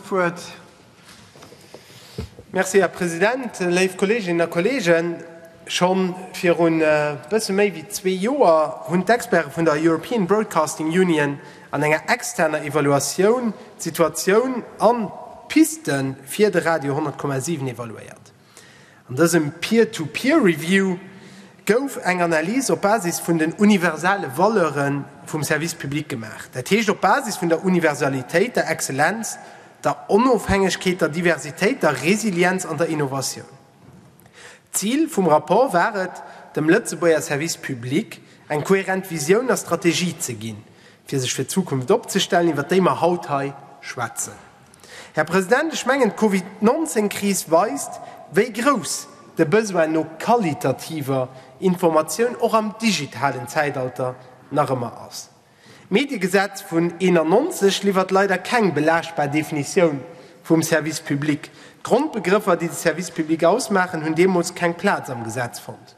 D'Wuert. Merci, Här President. Léif Kolleeginnen a Kolleegen, scho viru bësse méi wéi zwee Joer hunn d'Experte vun der European Broadcasting Union an enger externer Evaluatioun d'Situatioun an d'Piste fir de Radio 10,7 evaluéiert. An dësem Peer-to-Peer Review gouf eng Analys op Basis vun den universale Valeure vum Service public gemaach, dat heescht op Basis vun der Universalitéit, der Exzellenz, der Onofhängegkeet, der Diversitéit, der Resilienz an der Innovatioun. D'Zil vum Rapport war et, dem Lëtzebuerger Service public eng kohärent Visioun a Strategie ze ginn, fir sech fir d'Zukunft opzestellen, iwwer déi mer haut hei schwätzen. Här President, ech mengen, d'Covid 19 Kris weist, wéi grouss de Besoin no qualitativer Informatioun och am digitalen Zäitalter nach ëmmer ass. D'Mediegesetz vun 91 liwwert leider keng belaaschtbar Definitioun vum Service public. D'Grondbegrëffer, déi de Service public ausmaachen, hunn deemools keng Plaz am Gesetz fonnt.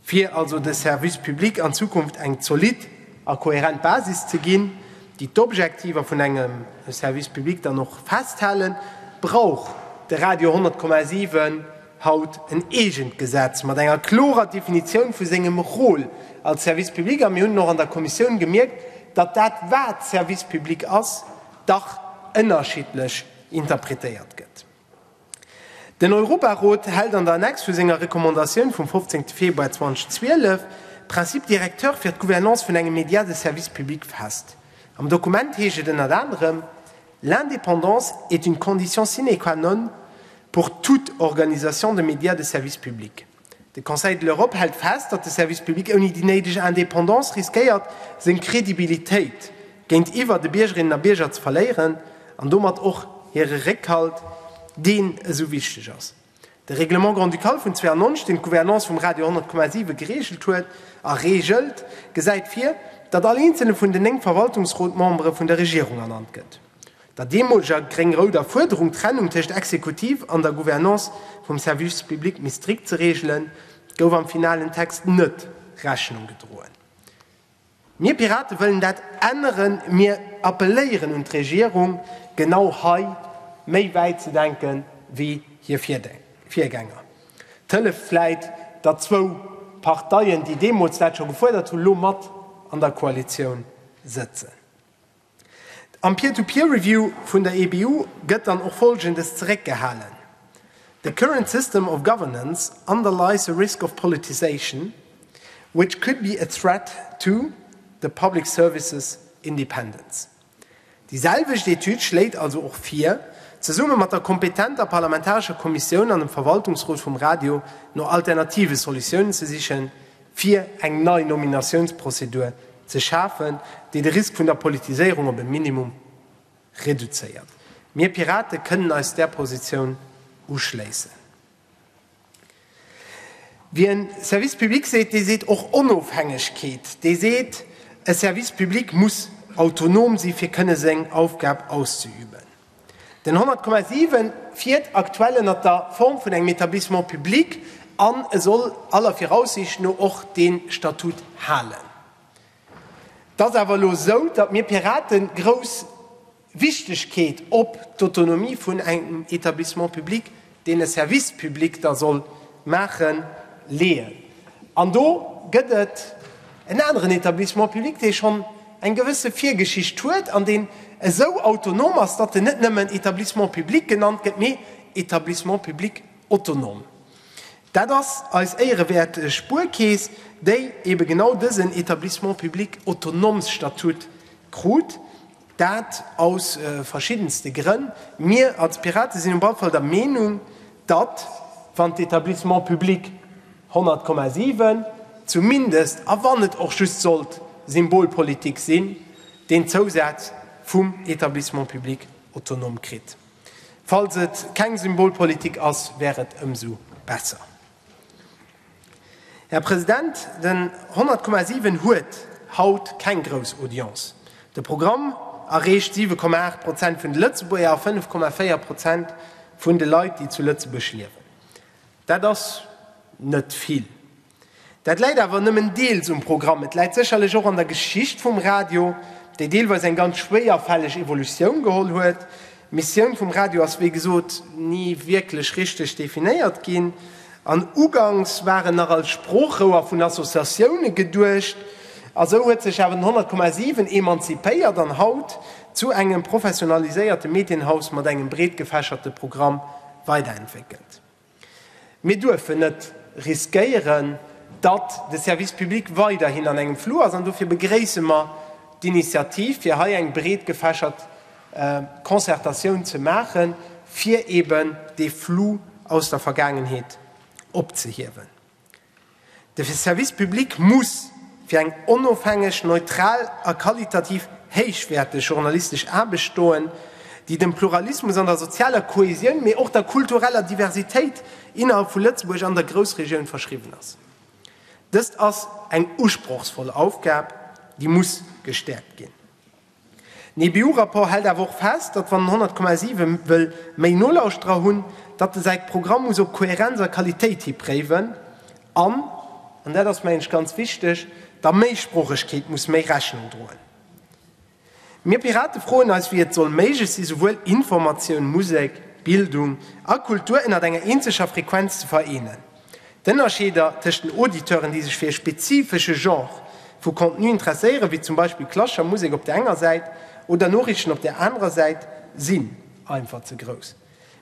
Fir also de Service public an Zukunft eng zolidd a kohärent Basis ze ginn, déi d'Objektiver vun engem Service public dann och festhalen, brauch de Radio 10,7 haut en eegent Gesetz mat enger klorer Definitioun vu sengem Rôle als Service public. A mir hunn och an der Kommissioun gemierkt, datt dat, wat Service public ass, dach ënnerschiddlech interpretéiert gëtt. Den Europarot hält an der Annex vu senger Recommandatioun vum 15 Februar 2012 d'Principe directeurs fir d'Gouvernance vun engem Média de service public fest. Am Dokument heescht et ënnert anerem, L'indépendance est une condition sine qua non pour toute organisation de médias de service public. De Conseil de l'Europe hält fest, datt de Service public ouni déi néideg Indépendance riskéiert, seng Credibilitéit géintiwwer de Biergerinnen a Bierger ze verléieren an domat och hire Réckhalt, deen esou wichteg ass. De Règlement grand-ducal vun 92, deen d'Gouvernance vum Radio 10,7 gereegelt huet a reegelt, gesäit vir, datt all eenzele vun den néng Verwaltungsrot-Membere vun der Regierung ernannt gëtt. der deemoleger gréng-rouder Fuerderung, d'Trennung tëscht Exekutiv an der Gouvernance vum Service public méi strikt ze reegelen, gouf am finalen Text net Rechnung gedroen. Mir Pirate wëllen dat änneren. Mir appelléieren un d'Regierung, genau hei méi wäit ze denke wéi hir Virgänger. Et hëlleft vläit, datt zwou Parteien, déi deemools dat scho gefuerdert hunn, elo mat an der Koalitioun sëtzen. Am Peer-to-Peer Review vun der EBU gëtt dann och Folgendes zeréckgehalen, The current system of governance underlies a risk of politisation which could be a threat to the public services independence. Déi selwecht Etüd schléit also och vir, zesumme mat der kompetenter parlamentarescher Kommissioun an dem Verwaltungsrot vum Radio no alternative Solutiounen ze sichen, fir eng nei Nominatiounsprozedur ze schafen, déi de Risk vun der Politiséierung op e Minimum reduzéiert. Mir Pirate kënnen eis där Positioun uschléissen. Wie en Service public seet, dee seet och Onofhängegkeet, dee seet, e Service public muss autonom si fir kënne seng Aufgab auszeüben. Den 100,7 fiert aktuell ënnert der Form vun engem Etablissement public an e soll aller Viraussiicht no och dee Statut halen. Et ass awer elo esou, datt mir Pirate grouss Wichtegkeet op d'Autonomie vun engem Etablissement public deen e Service public da soll maache leeën. An do gëtt et en aneren Etablissement public, dee schonn eng gewësse Virgeschicht huet an deen esou autonom ass, datt en net nëmmen Etablissement public genannt gëtt, mee Etablissement public autonome. Dat ass eis éierewäert Spuerkeess, déi eebe genau dësen Etablissement public autonome-Statut krut. Dat aus verschiddenste Grënn. Mir als Piraten sinn op alle Fall der Meenung, datt, wann d'Etablissements publics 100,7 zumindest, a wann et och just sollt Symbolpolitik sinn, deen Zousaz vum Etablissement public autonome kritt. Falls et keng Symbolpolitik ass, wär et ëmsou besser. Här President, den 100,7 huet haut keng grouss Audience. De Programm erreecht 7,8 Prozent vun de Lëtzebuerger a 5,4 Prozent vun de Leit, déi zu Lëtzebuerg liewen. Dat ass net vill. Dat läit awer nëmmen deels um Programm. Et läit sécherlech och an der Geschicht vum Radio, déi deelweis eng ganz schwéierfälleg Evolutioun geholl huet. D'Missioun vum Radio ass wéi gesot ni wierklech richteg definéiert ginn an uganks war en nach als Sproochrouer vun Associatioune geduecht. A sou huet sech awer den 100,7 emanzipéiert an haut zu engem professionaliséierte Medienhaus mat engem breetgefächerte Programm weiderentwéckelt. Mir duerfen net riskéieren, datt de Service public weiderhin an engem Flou ass an dofir begréisse mer d'Initiativ, fir hei eng breet gefächert Concertatioun ze maachen, fir eeben dee Flou aus der Vergaangenheet opzehiewen. De Service public muss fir eng onofhängeg, neutral a qualitativ héichwäerteg journalistesch Aarbecht stoen, déi dem Pluralismus an der sozialer Kohäsioun, mee och der kultureller Diversitéit innerhalb vu Lëtzebuerg an der Groussregioun verschriwwen ass. Dëst ass eng usprochsvoll Aufgab, déi muss gestäerkt ginn. Den EBU-Rapport hält awer och fest, datt wann den 100,7 wëll méi Nolauschterer hunn, datt e säi Programm muss op Kohärenz a Qualitéit hi préiwen an, an dat ass mengen ech ganz wichteg, der Méisproochegkeet muss méi Rechnung droen. Mir Pirate froen eis, wéi et soll méiglech sinn, souwuel Informatioun, Musek, Bildung a Kultur ënnert enger eenzeger Frequenz ze vereenen. D'Ënnerscheeder tëscht den Auditeuren, déi sech fir e spezifesche Genre vu Contenu interesséieren, wéi zum Beispill klassescher Musek op der enger Säit oder Noriichten op der anerer Säit, sinn einfach ze grouss.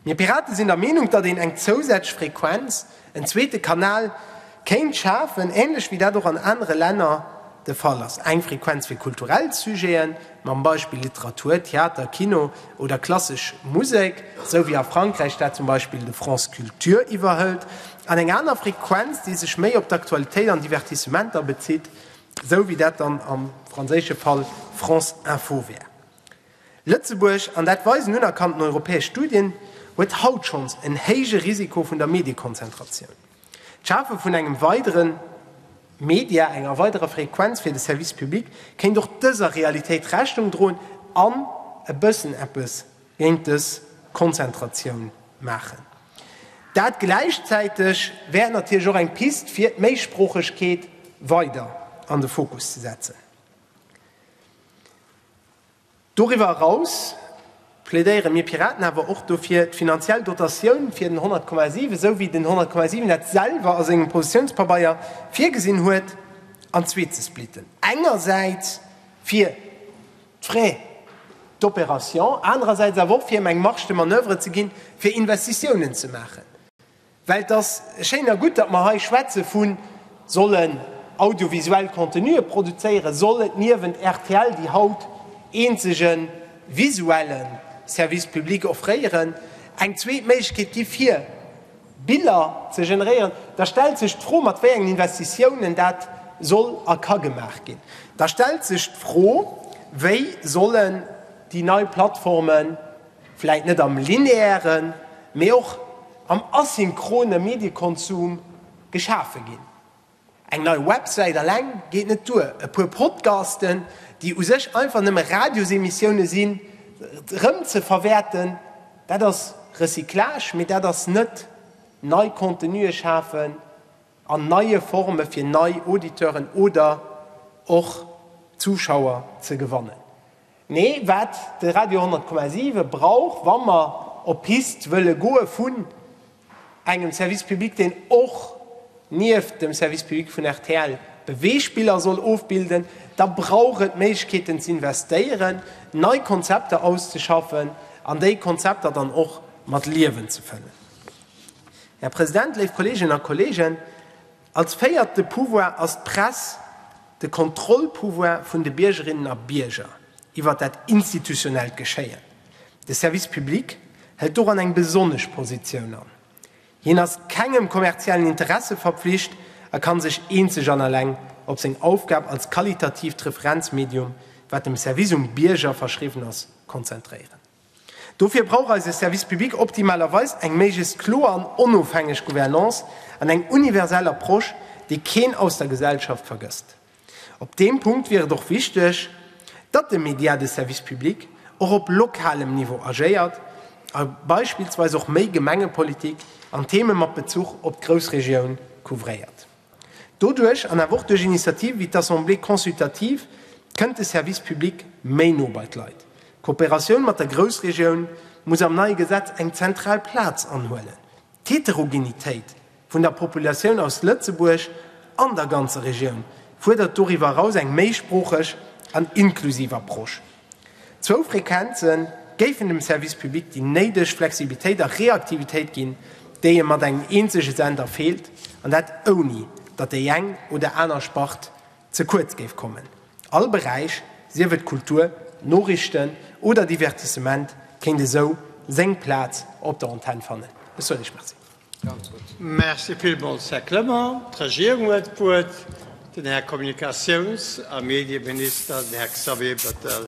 Mir Piraten sinn der Meenung, datt een eng zousätzlech Frequenz, en zweete Kanal, kéint schafen, änlech wéi dat och an anere Länner de Fall ass, eng Frequenz fir kulturell Sujeten, mam Beispill Literatur, Theater, Kino oder klassesch Musek, esou wéi a Frankräich dat zum Beispill de France Culture iwwerhëlt, an eng aner Frequenz, déi sech méi op d'Aktualitéit an Divertissementer bezitt, esou wéi dat dann am franséische Fall France Info wär. Lëtzebuerg, an dat weisen unerkannten europäesch Studien, huet haut schonns en héije Risiko vun der Mediekonzentratioun. D'Schafe vun engem weidere Media, enger weiderer Frequenz fir de Service public kéint och dëser Realitéit Rechnung droen an e bëssen eppes géint dës Konzentratioun maachen. Dat gläichzäiteg wär et natierlech och eng Pist fir d'Méisproochegkeet weider an de Fokus ze setzen. Doriwwer eraus plädéiere mir Piraten awer och dofir, d'finanziell Dotatioun fir den 100,7, esou wéi den 100,7 dat selwer a sengem Positiounspabeier virgesinn huet, an zwee ze splitten, engersäits fir d'Frais d'opération, anerersäits awer och fir em eng Marge de manoeuvre ze ginn, fir Investitiounen ze maachen. Well et ass schéin a gutt, datt mer hei schwätze vu sollen audiovisuell Contenue produzéieren, soll et niewent rtl, déi haut eenzege visuelle Service public offréieren, eng zweet Méiglechkeet gi fir Biller ze generéieren, da stellt sech d'Fro, mat wéi engen Investitiounen dat soll a ka gemaach ginn. Da stellt sech d'Fro, Wéi sollen déi nei Plattformen, Vläit net am lineären, mee och am asynchrone Mediekonsum geschafe ginn. Eng nei Websäit alleng geet net duer, e puer Podcasten, déi u sech einfach nëmme Radiosemissioune sinn, erëm ze verwäerten, dat ass Recyclage, mee dat ass net nei Contenue schafen an neie Forme fir nei Auditeuren oder och Zuschauer ze gewannen. Mee wat de Radio 10,7 brauch, wa mer op d'Pist wëlle goe vun engem Service public, deen och nieft dem Service public vun rtl Beweegspiller soll ofbilden, da brauch et Méiglechkeeten z'investéieren, nei Konzepter auszeschaffen an déi Konzepter dann och mat Liewen ze fëllen. Här President, léif Kolleeginnen a Kolleegen, Als véierte Pouvoir ass d'Press de Kontrollpouvoir vun de Biergerinnen a Bierger iwwer dat institutionellt Geschéien. De Service public hëlt doran eng besonnesch Positioun an. Hien ass kengem kommerziellen Interesse verpflicht a kann sech eenzeg an alleng op seng Aufgab als qualitatiivt Referenzmedium, wat dem Service um Bierger verschriwwen ass, konzentréieren. Dofir brauch eise Service public optimalerweis eng méiglechst kloer an onofhängeg Gouvernance an eng universell Approche, déi keen aus der Gesellschaft vergësst. Op deem Punkt wier et och wichteg, datt de Media de Service public och op lokalem Niveau agéiert a beispillsweis och méi Gemengepolitik an Theeme mat Bezuch op d'Groussregioun couvréiert. Doduerch, an awer och duerch Initiativen wéi d'Assemblée consultative, kënnt de Service public méi no bei d'Leit. D'Kooperatioun mat der Groussregioun muss am neie Gesetz eng zentral Plaz anhuelen. D'Heterogenitéit vun der Populatioun aus Lëtzebuerg an der ganzer Regioun fuerdert doriwwer eraus eng méisproocheg an inklusiv Approche. Zwou Frequenze géifen dem Service public déi néideg Flexibilitéit a Reaktivitéit ginn, déi e mat engem eenzege Sender feelt, an dat ouni datt déi eng oder aner Spart ze kuerz géif kommen. All Beräich, sief et Kultur, Noriichten oder Divertissement, kéint esou seng Plaz op der Antenn fannen. Ech soen Iech Merci. Merci villmools, Här Clement. D'Regierung huet d'Wuert, den Här Kommunikatiouns a Medieminister, den Här Xavier Bettel.